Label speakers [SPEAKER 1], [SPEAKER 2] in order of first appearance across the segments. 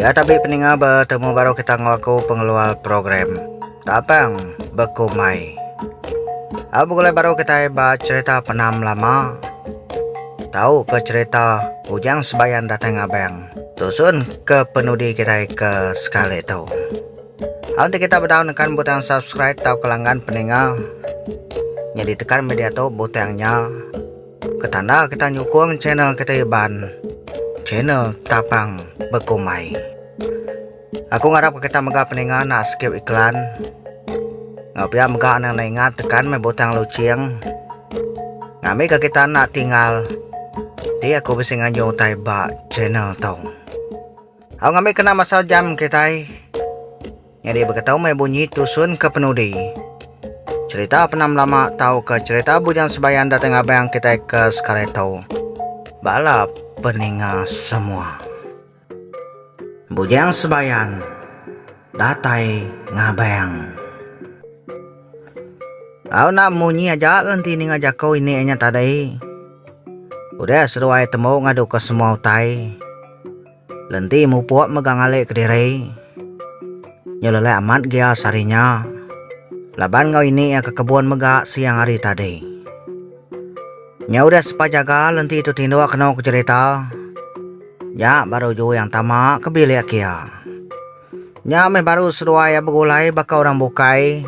[SPEAKER 1] Ya tapi peninga bertemu baru kita ngau aku pengeluar program. Tapang bekumai. Apa gulai baru kita ba cerita penam lama. Tahu ke cerita Ujang Sebayan datang abang. Tusun ke penudi kita ke sekali tu. Nanti kita berdaun dengan butang subscribe atau kelanggan peninga. Jadi tekan media tu butangnya. Ketanda kita nyukung channel kita Iban, channel Tapang Bekumai. Aku ngarap kita mega peninga nak skip iklan. Ngau pia mega nang nak ingat tekan mai butang lucing. Ngambi ke kita nak tinggal. Ti aku bisi nganyu utai ba channel tau. Aku ngambi kena masa jam kita. Nyadi beketau meh bunyi tusun ke penudi. Cerita penam lama tauka cerita bujang sebayan datai ngabang kitai ke sekali tu. Bala peninga semua. Bujang sebayan datai ngabang. Au enda munyi aja le enti ninga jaku ini inya tadi. Udah seduai tembu ngadu ke semua utai. Lenti mupuk mega ngalih kediri. Nyelelai amat gia sehari nya. Laban enggau ini iya ke kebun mega siang hari tadi. Nya udah sepa jaga lenti tu tinduk kenu ke jerita. Nya baru Jue yang tama ke bilik kia. Nya meh baru seduai iya begulai baka orang bukai.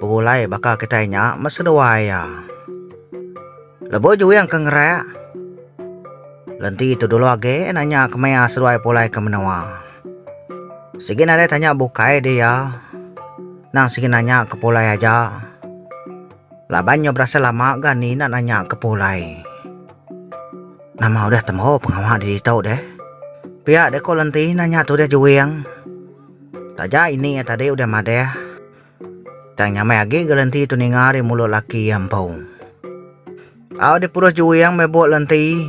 [SPEAKER 1] Begulai baka kitai nya meh seduai iya. Lebuh juing ke ngerak, lenti tu dulu agi nanya ke maya seduai pulai ke menua. Sigi nadai tanya bukai di iya, nang sigi nanya ke pulai aja. Laban nya berasai lama ga ni enda nanya ke pulai. Nama udah tembu pengawa di ditu deh? Pia deh ko lenti nanya tu deh juing. Taja ini iya tadi udah madah. Tang nyamai agi ga lenti tu ninga ari mulut laki iya empu. Au dipurus juing meh buk lenti.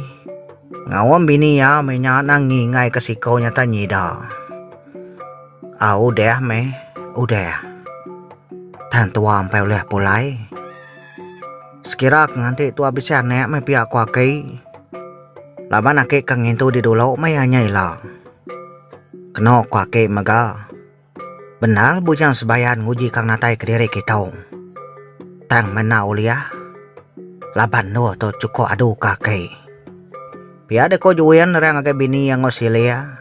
[SPEAKER 1] Ngaum bini iya meh nya nang ngingai ke siko nya tang nyida. Au udah meh udah. Tang tua empai ulih pulai. Sekira ke nganti tua bisi anak meh pia ko aki. Laban aki ke ngintu di dulu meh iya nya ila. Keno ko aki mega. Bendar bujang sebayan nguji ka natai kediri kitong. Tang mena uliah laban endur tu chukup adu ka aki. Pia deka Juin nerang ngagai bini iya enggau sili iya.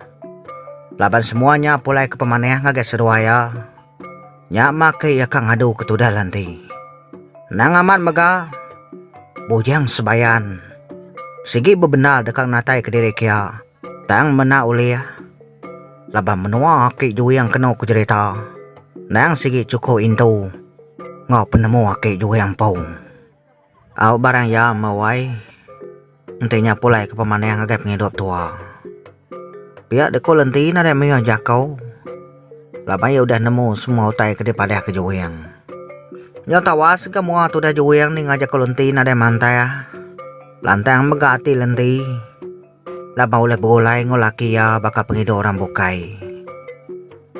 [SPEAKER 1] Laban semua nya pulai ke pemanah ngagai seduai iya. Nya mah aki iya ka ngadu ke tudal enti. Endang amat mega, bujang sebayan sigi bebendar deka natai kediri kia. Tang mena ulih laban menua aki juing kenu ku jerita endang sigi chuku intu enggau penemu aki juing empu. Au barang iya emau ai enti nya pulai ke pemanah ngagai pengidup tua. Pia de ko lenti ne dei mayuh jako laban iya udah nemu semua utai ke dipadah ke juing. Nyau tawas ke mua tudah juing ninga jako lenti nadai mantah lantang mega ati lenti. Laban ulih begulai enggau laki iya baka pengidup orang bukai.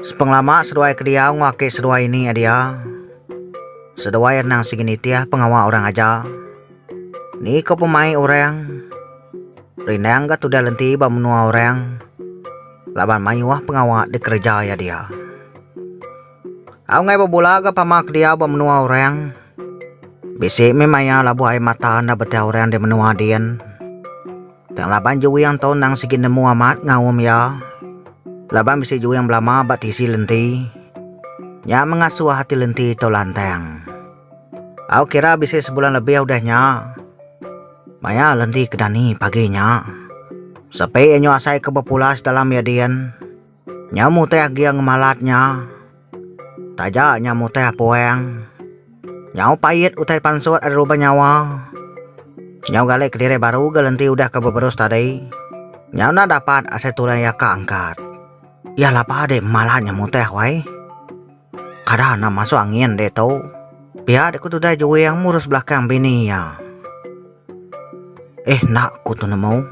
[SPEAKER 1] Sepengelama seduai ke diau enggau aki seduai ini nyadi iya. Seduai anang sigi nitih pengawa orang aja. Ni ko pemai orang? Rindang ga tudah lenti ba menua orang. Laban mayuh pengawa dikereja iya dia. Aungai bebula ga pama ke diau ba menua orang. Bisi mih maya labuh ai mata enda beti orang di menua din. Tang laban juing tu endang sigi nemu amat ngaum iya. Laban bisi juing belama ba tisi lenti. Nya mengasuh ati lenti tu lantang. Au kira bisi sebulan lebih udah nya. Maya lenti ke dani pagi nya. Sepi anyu asai ke bepulas dalam iya din. Nya mutih gia ngemalat nya. Taja nya mutih puang. Nyau pait utai pansut ari ruban nyawa. Nyau gali kediri baru ga lenti udah ke beberus tadi. Nyau enda dapat asai tulang iya ka angkat. Iya laba dek malat nya mutih wai. Kada enda masuk angin dek tu. Pia dek ku tudai juing murus belakang bini iya. Eh enda ku tu nemu.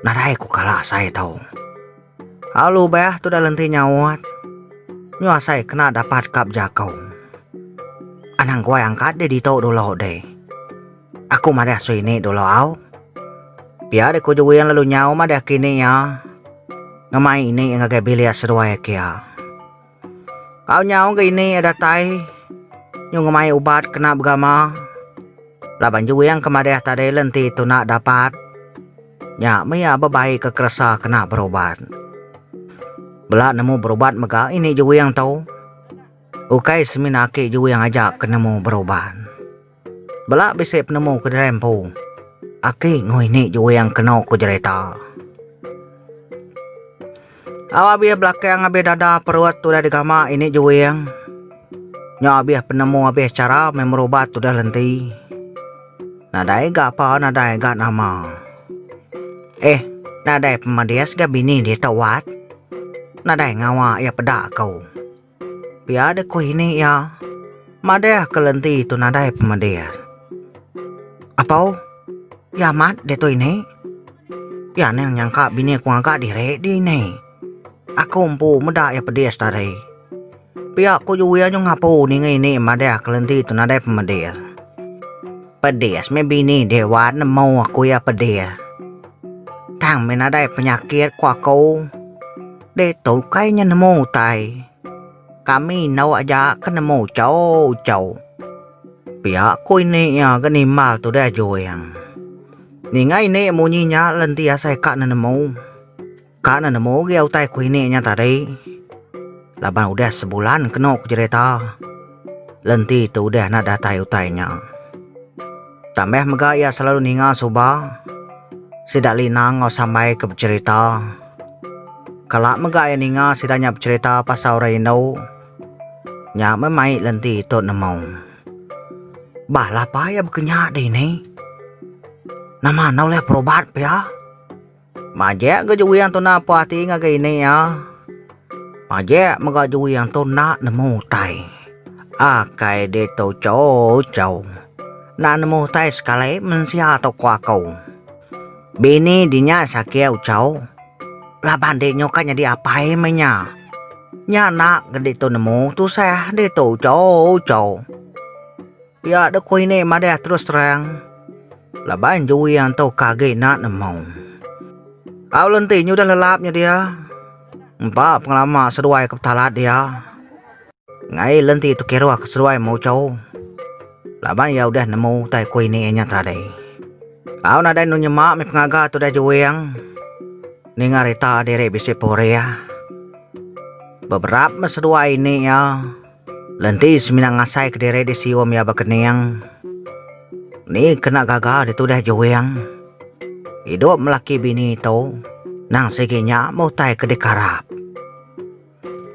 [SPEAKER 1] Nadai ku kala asai tu. Alu bah tu dalam ti nyaut. Nyuasai kena dapat kap jakau. Anang kuai angkat di ditu dulu deh. Aku madah sui ni dulu au. Pia deh ku juing lalu nyau madah kini ya. Ngemai ini ngagai bilik seduai kia. Au nyau ga ini iya datai nyu ngemai ubat kena begama laban juing ke madih tadi le enti tuna dapat nya mih iya bebai ke keresa kena berubat. Bela nemu berubat mega ini juing tu ukai semina ake juing aja ke nemu berubat. Bela bisi penemu ke dirai empu. Aki ngui ni juing keno ku jerita. Au abih belakang abih dada perut udah digama ini juing. Nyau abih penemu abih chara meh merubat udah lenti. Nadai ga apa nadai ga nama. Eh nadai pemedis ga bini ditu wat. Nadai ngawa iya peda ku. Pia deh ku ini iya. Madah ke lenti tu nadai pemadir. Apau? Iya amat ditu ini. Iya nang nyangka bini aku ngaga diri di ini. Aku empu meda iya pedis tadi. Pia ku ju iya nyau ngapu ninga ini madah ke lenti tu nadai pemadir. Pedis meh bini deh wan nemu aku iya pedis. Tang meh nadai penyakit ku aku. Deh tu ukai nya nemu utai. Kami endu aja ke nemu uchou-uchou. Pia ku ini iya ke nimbal tu deh Juing. Ninga ini munyi nya lalu enti iya sai ka nenemu. Ka nenemu ugi utai ku ini nya tadi. Laban udah sebulan kenu ku cherita. Lenti tu udah enda datai utai nya. Tambah mega iya selalu ninga suba sida Lina enggau Sambai ke becerita. Kala mega iya ninga sida nya becerita pasal orang indu, nya meh mai lenti tu nemu. Bah lapa iya bekenya dini? Nama enda ulih berubat pia? Majak ga Juwi Anto napa ati ngagai ini iya. Majak mega Juwi Anto enda nemu utai. Akai ditu choo choo. Enda nemu utai sekali mensia tu ko aku. Bini dinya sakiau choo. Laban dek nyo ka nyadi apai meh nya. Nya enda ke ditu nemu tusah ditu choo choo. Pia dek ku ini madah terus terang. Laban jui anto ka agi nak nemu. Au lenti nyudah lelap nya dia. Empa pengelama seduai ke petalat dia. Ngai lenti tu kiruh ke seduai mucho. Laban ia udah nemu utai ku ini nya tadi. Au nadai nu nyema mih pengaga tu udah juing. Ninga rita diri bisi purih. Beberap meh seduai ini ia. Lenti semina ngasai kediri di sium iya bekening. Ni kena gaga ditudah Juing. Idup melaki bini tu nang sigi nya meh utai ke dikarap.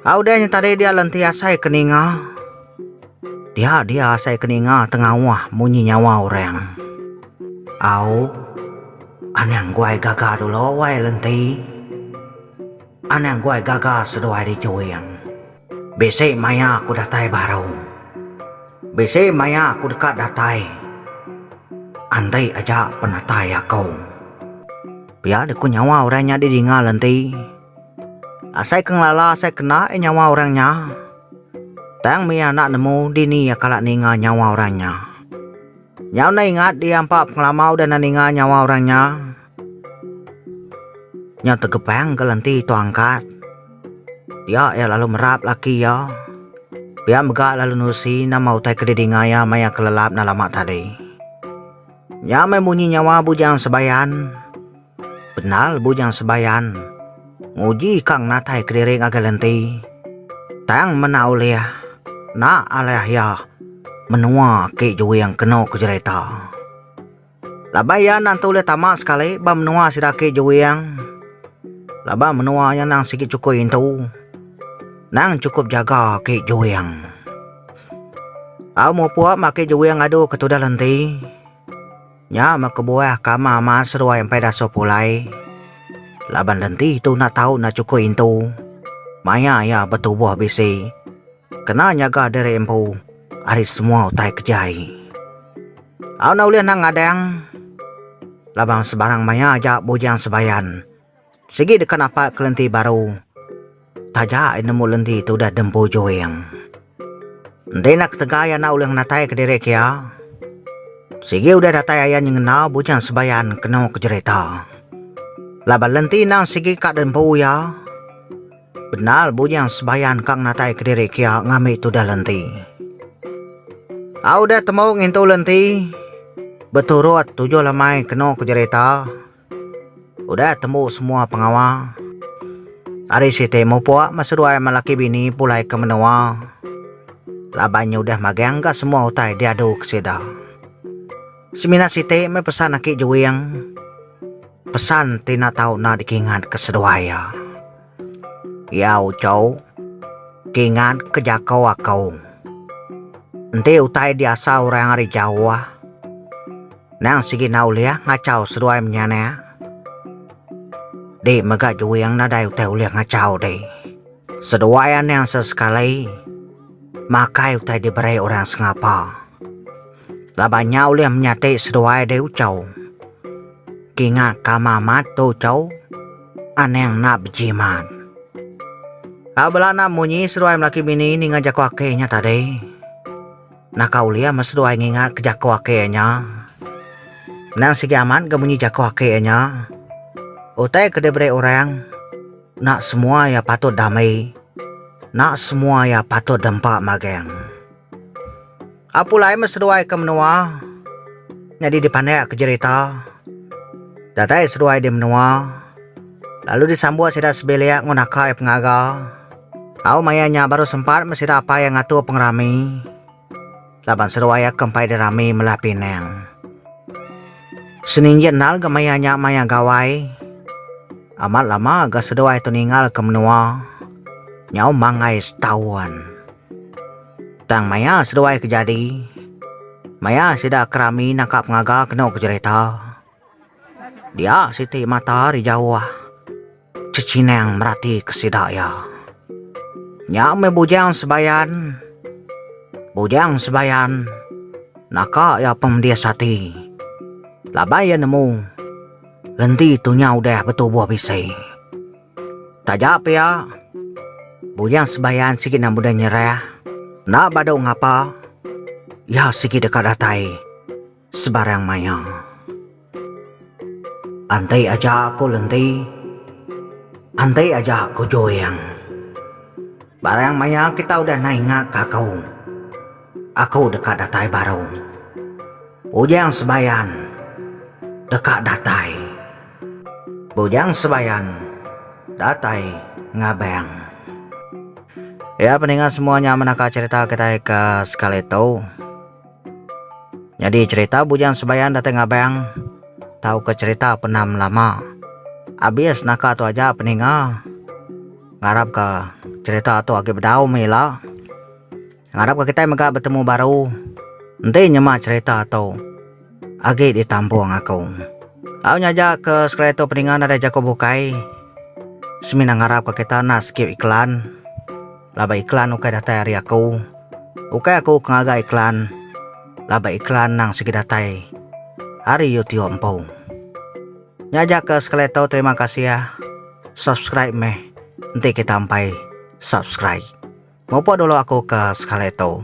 [SPEAKER 1] A udah nya tadi dia lenti asai ke ninga. Dia dia asai ke ninga tengauh munyi nyawa orang. Au. Anang guai gaga dulu wai lenti. Anang guai gaga seduai di Juing. Bisi maya aku datai baru. Bisi maya aku deka datai. Enti aja penatai aku. Pia deh ku nyawa orang nya didingal enti. Asai ke ngelala asai kena eh nyawa orang nya. Tang mih anak nemu dini iya kala ninga nyawa orang nya. Nyau enda ingat iya empa pengelama udah enda ninga nyawa orang nya. Nya tegepang ke lenti tu angkat. Pia iya lalu merap laki iya. Pia mega lalu nusi nama utai ke didinga iya maya kelelap enda lama tadi. Nya meh munyi nyawa Bujang Sebayan. Penal Bujang Sebayan nguji ka ngenatai kediri ngagai lenti. Tang mena ulih, enda alai iya menua aki Juing kenu ke jerita. Laban iya endang tu ulih tama sekali ba menua sida agi juing. Laban menua nya endang sigi chukui intu. Endang chukup jaga agi juing. Au mupuk meh agi juing adu ke tudah lenti. Nya meh kebuah ke ama amat seduai empai dasuh pulai. Laban lenti tu enda tau enda chukui intu. Maya iya betubuh bisi. Kena nyaga diri empu ari semua utai kejai. Au enda ulih nang ngadang laban sebarang maya aja bujang sebayan. Sigi deka napak ke lenti baru taja ai nemu lenti tu udah dempu juing. Enti enda ketegal iya enda ulih ngenatai ke diri ke iya, sigi udah datai ayan nyengena bujang sebayan keno ke jerita. Laban lenti nang sigi ka dempu iya, Penal Bujang Sebayan kang natai kediri kia ngambi tudah lenti. Au dah temu ngintu lenti, beturut tujuh lemai kenu ke jerita. Udah temu semua pengawa. Hari siti mupuk meh seduai meh laki bini pulai ke menua. Laban nyudah magang ga semua utai diadu ke sida. Semina siti meh pesan aki Juing. Pesan ti enda tau enda dikingat ke seduai iya. Iya uchou kingat ke jaku aku. Enti utai diasa orang ari jauh, nang sigi enda ulih ngachau seduai menya nya. Di mega Juing nadai utai ulih ngachau di. Seduai anang sesekali makai utai diberi orang sengapa. Laban nya ulih menyati seduai diri ucau. Kinga kama mat tu ucau, anang enda bejimat. Au bela enda munyi seduai melaki bini ninga jaku aki nya tadi. Naka ulih meh seduai ngingatka jaku aki nya. Endang sigi amat ga munyi jaku aki nya. Utai ke diberi orang, enda semua iya patut dami, enda semua iya patut dempa magang. Apu lai meh seduai ke menua nyadi dipandik ke jerita. Datai seduai di menua lalu disambut sida sebilik enggau naka iya pengaga. Au maya nya baru sempat meh sida apai iya ngatur pengerami laban seduai iya ke empai dirami melah Penang. Seninjih endar ga maya nya maya gawai amat lama ga seduai tu ninggal ke menua nyau manggai setaun. Tang maya seduai ke jadi, maya sida ke rami nangka pengaga kenu ke jerita, dia siti mata ari jauh cechinang merati ke sida iya. Nya meh Bujang Sebayan. Bujang Sebayan naka iya pemedis ati laban iya nemu lenti tu nya udah betubuh bisi. Taja pia, bujang sembahyang sigi nang mudah nyerah. Enda badu ngapa, iya sigi deka datai sebarang maya. Enti aja aku lenti, enti aja aku joyang. Barang maya kita udah naingat ka aku, aku deka datai baru. Bujang sembahyang deka datai. Bujang Sebayan datai ngabang. Ya peninga semua nya menaka cerita kitai ke sekali tu. Nyadi cerita Bujang Sebayan datai ngabang tauka cerita penam lama. Abis naka tu aja peninga ngarapka cerita tu agi bedau mih ila. Ngarap ka kitai mega betemu baru. Enti nyema cherita tu agi di tampung aku. Au nya aja ke sekali tu peninga nadai jaku bukai. Semina ngarap ka kita enda skip iklan. Laban iklan ukai datai ari aku. Ukai aku ke ngaga iklan laban iklan nang sigi datai ari YouTube empu. Nya aja ke sekali tau terima kasih ah. Subscribe meh. Enti kita ampai subscribe. Mupuk dulu aku ke sekali tu.